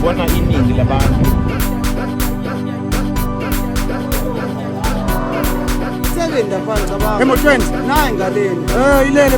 Bona iningi labantu Sebenza phansi abantu. Emotweni. Nayi ngaleni. Eh ilele.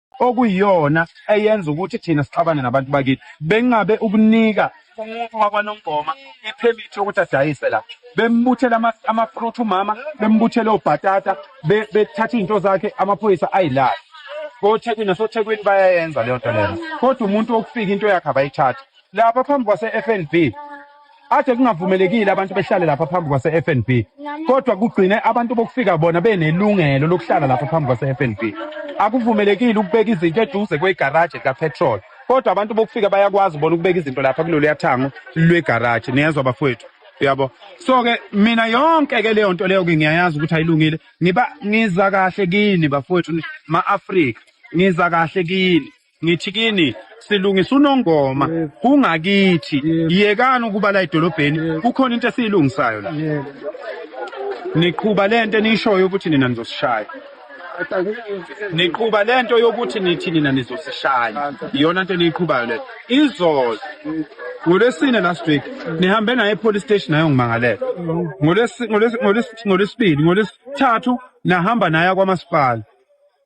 okuyiyona eyenza ukuthi thina sixabane nabantu bakithi bengabe ukunika umuntu wakwanongoma iphemithi yokuthi adayise la bembuthela amafruit umama bembuthela obhatata bethatha izinto zakhe amaphoyisa ayilala kothekwini nasothekwini bayayenza leyo nto leyo kodwa umuntu wokufika into yakhe abayithatha lapha phambi kwase-fnb Ade kungavumelekile abantu behlale lapha phambi kwase-FNB kodwa kugcine abantu bokufika bona benelungelo lokuhlala lapha phambi kwase-FNB. Akuvumelekile ukubeka izinto eduze kwegaraji likapetrol kodwa abantu bokufika bayakwazi bona ukubeka izinto lapha kuloluya thango lwegaraji niyezwa bafowethu uyabo so ke mina yonke ke leyo nto leyo ke ngiyayazi ukuthi ayilungile ngiba ngiza kahle kini bafowethu ma-afrika ngiza kahle kini ngithi kini silungisa unongoma kungakithi yekani ukuba la edolobheni kukhona into esiyilungisayo la niqhuba lento enishoyo ukuthi nina nizosishaya niqhuba lento yokuthi nithi nina nizosishaya iyona nto niyiqhubayo leyo izolo ngolwesine last week nihambe naye epolice station nayo ngimangalela ngolwesibili ngolwesithathu nahamba naye kwamasipala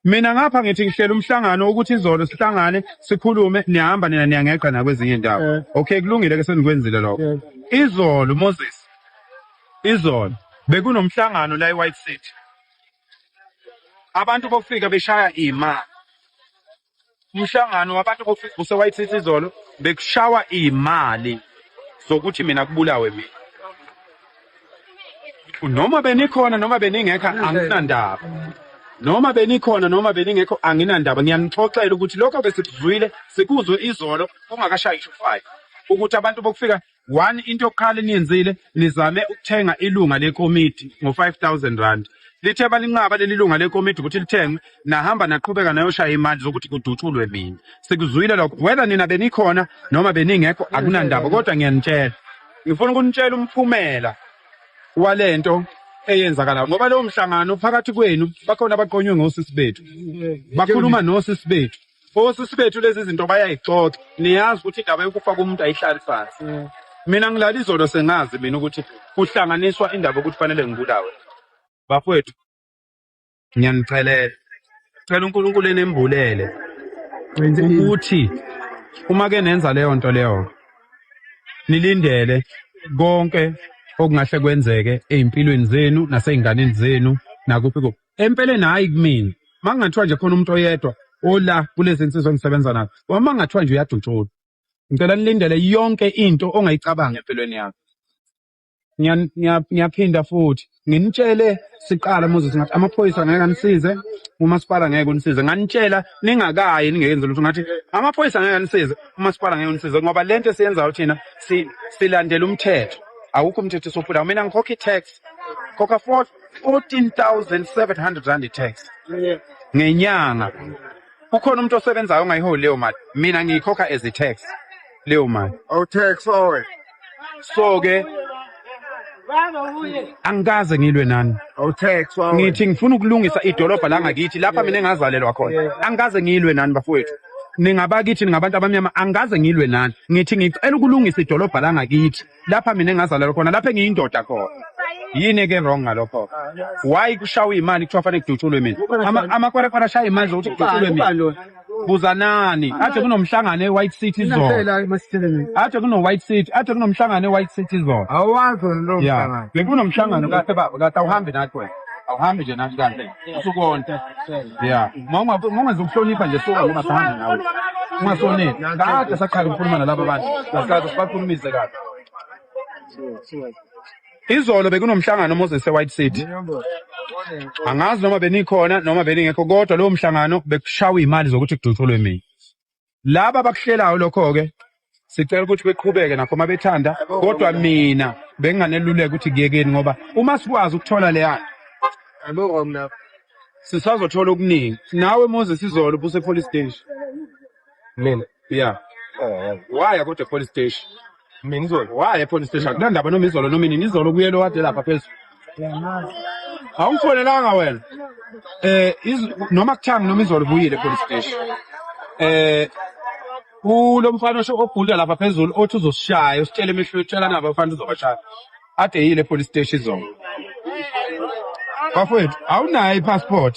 Mina ngapha ngithi ngihlela umhlangano ukuthi izolo sihlangane sikhulume nihamba nina niyangeqa nakwezinye indawo. Eh. Okay kulungile ke senikwenzile lokho. Eh. Izolo Moses. Izolo bekunomhlangano la eWhite City. Abantu bofika beshaya imali. umhlangano wabantu bokugquse wayithithi izolo bekushawa imali zokuthi mina kubulawe mina noma benikhona noma beningekho anginandaba noma benikhona noma beningekho anginandaba ngiyanixoxela ukuthi lokho besikuzwile sikuzwe izolo kungakashayi ishufayo ukuthi abantu bokufika One into yokuqala eniyenzile nizame ukuthenga ilunga lekomiti ngo-5000 rand. Lithe balinqaba leli lunga lekomiti ukuthi lithenge nahamba naqhubeka nayoshaya imali zokuthi kudutshulwe mina. Sikuzwile lokho whether nina benikhona noma beningekho akunandaba kodwa ngiyanitshela. Ngifuna ukunitshela umphumela walento eyenzakalayo ngoba lowo mhlangano phakathi kwenu bakhona abaqonywe ngosisi bethu. Bakhuluma nosisi bethu. Osisi bethu lezi zinto bayayixoxa. Niyazi ukuthi indaba yokufa komuntu ayihlali phansi. Mina ngilala izolo sengazi mina ukuthi kuhlanganiswa indaba yokuthi fanele ngibulawe. Bafowethu ngiyanicelela. Cela uNkulunkulu enembulele ukuthi uma ke nenza leyo nto leyo nilindele konke okungahle kwenzeke ezimpilweni zenu naseyinganeni zenu nakuphi kuphi. empeleni hhayi kumina uma kungathiwa nje khona umuntu oyedwa ola kulezi nsizwa engisebenza nazo uma kungathiwa nje uyadutshulwa ngicela nilindele yonke into ongayicabanga empilweni yakho ngiyaphinda futhi nginitshele siqala Moses ngathi amaphoyisa ngeke anisize umasipala ngeke unisize nganitshela ningakayi ningeyenzi lutho ngathi amaphoyisa ngeke anisize umasipala ngeke unisize ngoba lento esiyenzayo thina silandela umthetho awukho umthetho sophula mina ngikhokha i-tax khokha 4 14,700 rand tax ngenyanga kukhona umuntu osebenzayo ongayiholi leyo mali mina ngiyikhokha as i-tax leyo mali oh tax owe so ke angikaze ngilwe nani oh tax owe ngithi ngifuna ukulungisa idolobha la ngakithi lapha mina engazalelwa khona angikaze ngilwe nani bafowethu ningabakithi ningabantu abamnyama angikaze ngilwe nani ngithi ngicela ukulungisa idolobha la ngakithi lapha mina engazalelwa khona lapha engiyindoda khona yini ke wrong ngalokho why kushawa imali kuthiwa fanele kudutshulwe mina Ama- amakwerekwere ashaya imali zokuthi kudutshulwe mina buzanani athe kunomhlangano e-white city izolo athe kuno-white city athe kunomhlangano e-white city izolo awazi wena lowo ya mhlangano bekunomhlangano kahle baba kahle awuhambi nathi wena awuhambi nje nathi kahle usukonta ya mawungezokuhlonipha nje suka ngoba sahamba nawe ungasoneli kade saqala ukukhuluma nalaba bantu saqala sibakhulumise kabi izolo bekunomhlangano moses e-white city angazi noma benikhona noma beningekho kodwa lowo mhlangano bekushawa iy'mali zokuthi kudutshulwe mina laba abakuhlelayo lokho-ke sicela ukuthi beqhubeke nakho uma bethanda kodwa mina benginganeluleka ukuthi kuyekeni ngoba uma sikwazi ukuthola leyana sisazothola okuningi nawe moses izolo busepolice station mina ya waya kodwa epolice station mina izolo waya epolice station kunandaba noma izolo noma inini izolo kuyelo wade lapha phezulu awungifonelanga wena eh iz- noma kuthiwa noma izolo ubuyile epolice station eh ulo mfana osho obhulda lapha phezulu othi uzosishaya usitshela emehlweni utshela nabo mfana uzobashaya ade yile epolice station izolo bafowethu awunayo i-passport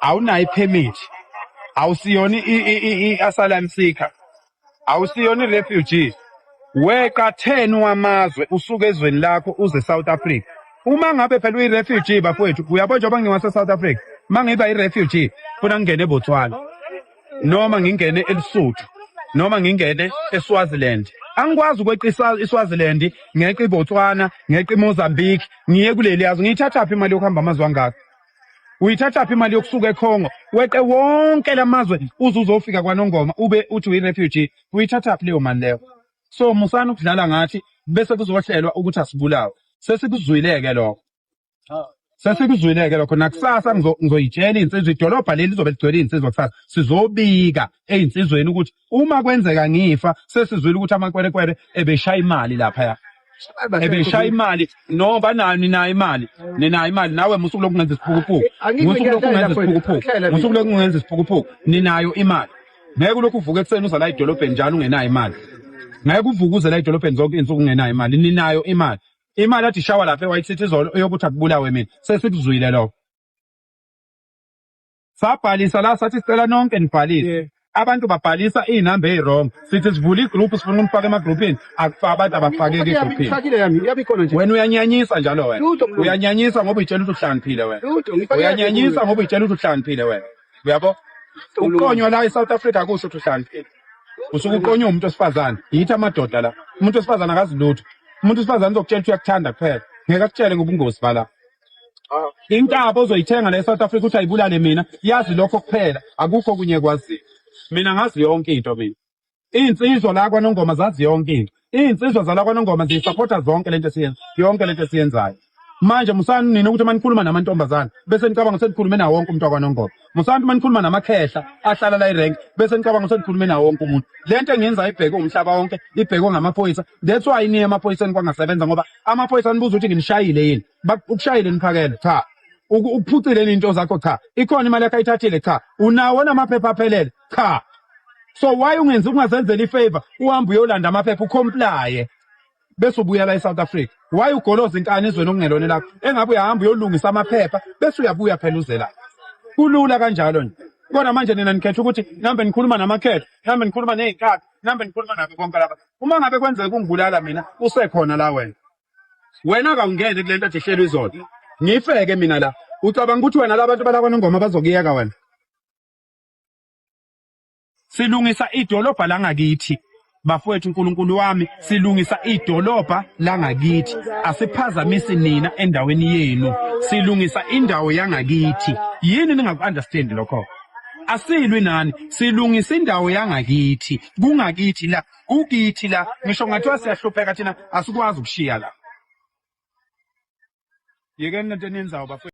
awunayo i-permit awusiyona i-asylum seeker awusiyona i-refugee weqa 10 wamazwe usuke ezweni lakho uze South Africa uma ngabe phela uyi-refugee bafowethu uyabo njengoba ngiwase-south africa uma ngiba i-refugee funa ngingene ebotswana noma ngingene elisuthu noma ngingene eswaziland angikwazi ukweqa iswaziland ngeqa ibotswana ngeqa imozambique ngiye kuleli yazi ngiyithathaphi imali yokuhamba amazwe angaka uyithathaphi imali yokusuka eCongo weqe wonke lamazwe uze uzofika kwaNongoma ube uthi uyi-refugee uyithathaphi leyo mali leyo so musani ukudlala ngathi bese kuzohlelwa ukuthi asibulawe sesikuzwileke lokho sesikuzwileke lokho nakusasa ngizoyitshela iy'nsizwa idolobha leli lizobe ligcwele iy'nsizwa kusasa sizobika ey'nsizweni ukuthi uma kwenzeka ngifa sesizwile ukuthi amakwerekwere ebeshaya imali laphaya ebeshaya imali no banayo ninayo imali ninayo imali nawe musuku lokungenza isiphukuphuku musuku lokungenza isiphukuphuku musuku lokungenza isiphukuphuku ninayo imali ngeke ulokhu uvuke ekuseni uza la edolobheni njalo ungenayo imali ngeke uvuke uze la edolobheni zonke insuku ungenayo imali ninayo imali imali athi shawa lapha e-white city izolo eyokuthi akubulawe mina sesikuzwile lokho Sabhalisa la sathi sicela nonke nibhalise. Abantu babhalisa iy'namba eyi-wrong. Sithi sivule i-group sifuna ukumfaka ema-groupini. Akufa abantu abafakeki egruphini. Ngifakile yami, iyabe ikhona nje. Wena uyanyanyisa njalo wena. Lutho mlungu. Uyanyanyisa ngoba uyitshela ukuthi uhlaniphile wena. Lutho, ngifakile Uyanyanyisa ngoba uyitshela ukuthi uhlaniphile wena. Uyabo? Ukuqonywa la e-South Africa akusho ukuthi uhlaniphile. Usuke uqonywe umuntu wesifazane. Yithi amadoda la. Umuntu wesifazane akazi lutho. Umuntu wesifazane uzokutshela ukuthi uyakuthanda kuphela. Ngeke akutshele ngobungozi bala. Intaba ozoyithenga la eSouth Africa uthi ayibulale mina, yazi lokho kuphela, akukho okunye ekwaziyo. Mina ngazi yonke into mina. Iy'nsizwa la kwaNongoma zazi yonke into. Iy'nsizwa zala kwaNongoma ziyisapotha zonke lento esiyenza, yonke lento esiyenzayo. Manje musani nina ukuthi manikhuluma namantombazane bese nicabanga ukuthi senikhulume nawo wonke umuntu wakwaNongoma. Musantu manikhuluma namakhehla ahlala la irank bese nicabanga ukuthi nikhulume nawo wonke umuntu. Lento engenza ibhekwe umhlaba wonke, ibhekwe ngamaphoyisa. That's why niye emaphoyiseni kwangasebenza ngoba amaphoyisa anibuza ukuthi nginishayile yini. Ukushayile niphakele cha. Ukuphucile into zakho cha. Ikhona imali yakhe ayithathile cha. Unawo namaphepha aphelele cha. So why ungenzi ungazenzela ifavor uhambe uyolanda amaphepha ucomplaye. bese ubuya la eSouth Africa why ugoloza inkani ezweni okungelona lakho engabe uyahamba uyolungisa amaphepha bese uyabuya phela uze la kulula kanjalo nje kodwa manje nina nikhetha ukuthi nambe nikhuluma namakhetho nambe nikhuluma nezinkakha nambe nikhuluma nabo bonke laba uma ngabe kwenzeka kungibulala mina usekhona la wena wena kawungene kule nto athi ihlelwe izolo ngifeke mina la ucabanga ukuthi wena labantu balakwanongoma bazokuyeka wena Silungisa idolobha langakithi. Bafowethu uNkulunkulu wami, silungisa idolobha langakithi. Asiphazamisi nina endaweni yenu. Silungisa indawo yangakithi. Yini ningaku-understand lokho? asilwi nani silungisa indawo yangakithi kungakithi la kukithi la ngisho ngathiwa siyahlupheka thina asikwazi ukushiya la yekeni lento eniyenzayo